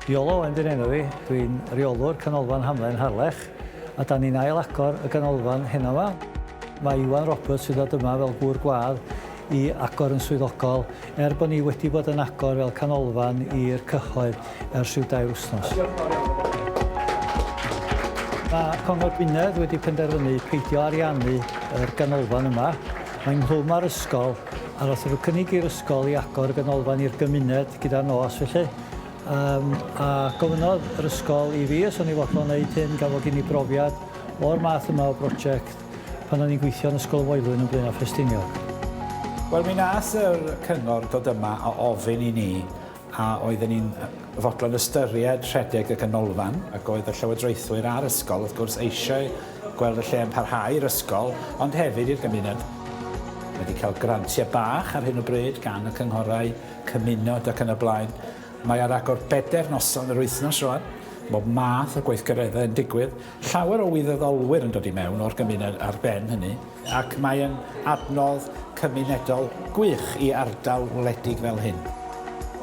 Iolo Owen dyn enw fi, dwi'n reolwr Canolfan Hamlen Harlech a da ni'n ail agor y ganolfan heno fa. Mae Iwan Roberts sydd ddod yma fel gŵr gwadd i agor yn swyddogol er bod ni wedi bod yn agor fel canolfan i'r cyhoedd. ers rhyw dair wythnos. Mae Cyngor Gwynedd wedi penderfynu peidio ariannu yr ganolfan yma. Mae ynghlwm â'r ysgol a wrth iddo cynnig i'r ysgol i agor y ganolfan i'r gymuned gyda'r nos felly um, a gofynnodd yr ysgol i fi os o'n i fodlon wneud hyn gan fod gen i brofiad o'r math yma o brosiect pan o'n i'n gweithio yn Ysgol y Moelwyn yn Blaenau Ffestiniog. Wel, mi nath yr cyngor dod yma a ofyn i ni a oedden ni'n fodlon ystyried rhedeg y ganolfan, ac oedd y llywodraethwyr a'r ysgol, wrth gwrs, eisiau gweld y lle yn parhau i'r ysgol, ond hefyd i'r gymuned. Wedi cael grantiau bach ar hyn o bryd gan y cynghorau cymuned ac yn y blaen. Mae ar agor bedair noson yr wythnos rwan, bob math o gweithgareddau yn digwydd, llawer o wirfoddolwyr yn dod i mewn o'r gymuned ar ben hynny. Ac mae yn adnodd cymunedol gwych i ardal wledig fel hyn.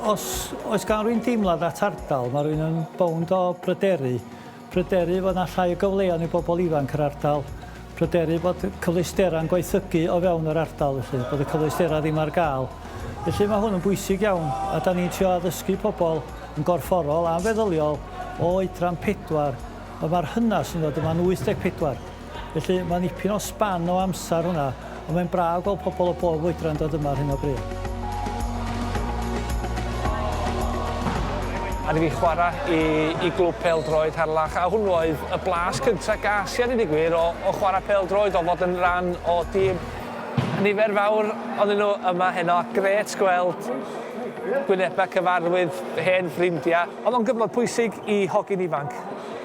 Os oes gan rywun deimlad at ardal, mae rhywun yn bownd o bryderu. Pryderu fod 'na llai o gyfleon i bobl ifanc yr ardal. Pryderu bod cyfleusderau'n gwaethygu o fewn yr ardal felly, bod y cyfleusderau ddim ar gael. Felly mae hwn yn bwysig iawn a da ni'n trio addysgu pobl yn gorfforol a'n feddyliol o oedran pedwar, ond mae'r hynas yn dod yma'n 84. Felly, mae nipyn o span o amser hwnna, ond mae'n braf gweld pobl o bob oedran dod yma ar hyn o bryd. Aru fi chwarae i glwb pêl-droed Harlech, a hwnnw oedd y blas cyntaf ges i a dweud y gwir o chwarae pêl-droed, o fod yn rhan o dîm. Nifer fawr ohonyn nhw yma heno, a grêt gweld gwynebau cyfarwydd, hen ffrindiau. Oedd o'n gyfnod pwysig i hogyn ifanc.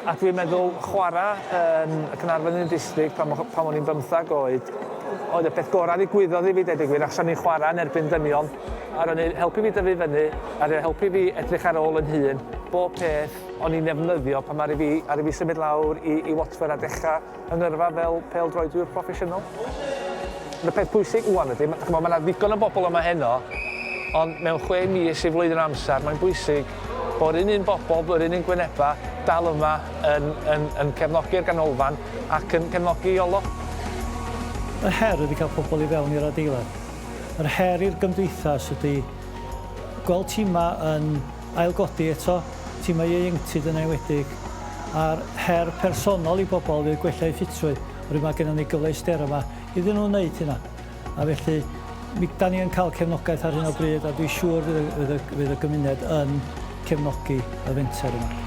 A dwi'n meddwl chwarae yn y Caernarfon yn y district pan o- pan o'n i'n bymthag oed, oedd y peth gorau ddigwyddodd i fi deud y gwir achos o'n i'n chwarae yn erbyn dynion a ro'n i'n helpu fi dyfu fyny a ro'n helpu fi edrych ar ôl yn hun, bob peth o'n i'n ddefnyddio pan aru fi aru fi symud lawr i i Watford a dechra yn yrfa fel pêl-droedwyr proffesiynol. Ond y peth pwysig ŵan ydy, ma- ch'mo' ma' 'na ddigon o bobl yma heno, ond mewn chwe mis i flwyddyn o amser, mae'n bwysig bo'r un un bobl, yr un un gwyneba', dal yma yn yn yn cefnogi'r ganolfan ac yn cefnogi Iolo. Yr her ydy cael pobl i fewn i'r adeilad. Yr her i'r gymdeithas ydy gweld timau yn Ailgodi eto timau ieuenctid yn enwedig a'r her personol i bobl fydd gwella eu ffitrwydd oherwydd mae gennym ni gyfleusterau yma iddyn nhw wneud hynna a felly mi 'dan ni yn cael cefnogaeth ar hyn o bryd a dwi'n siŵr fydd y fydd y fydd y gymuned yn cefnogi y fenter yma.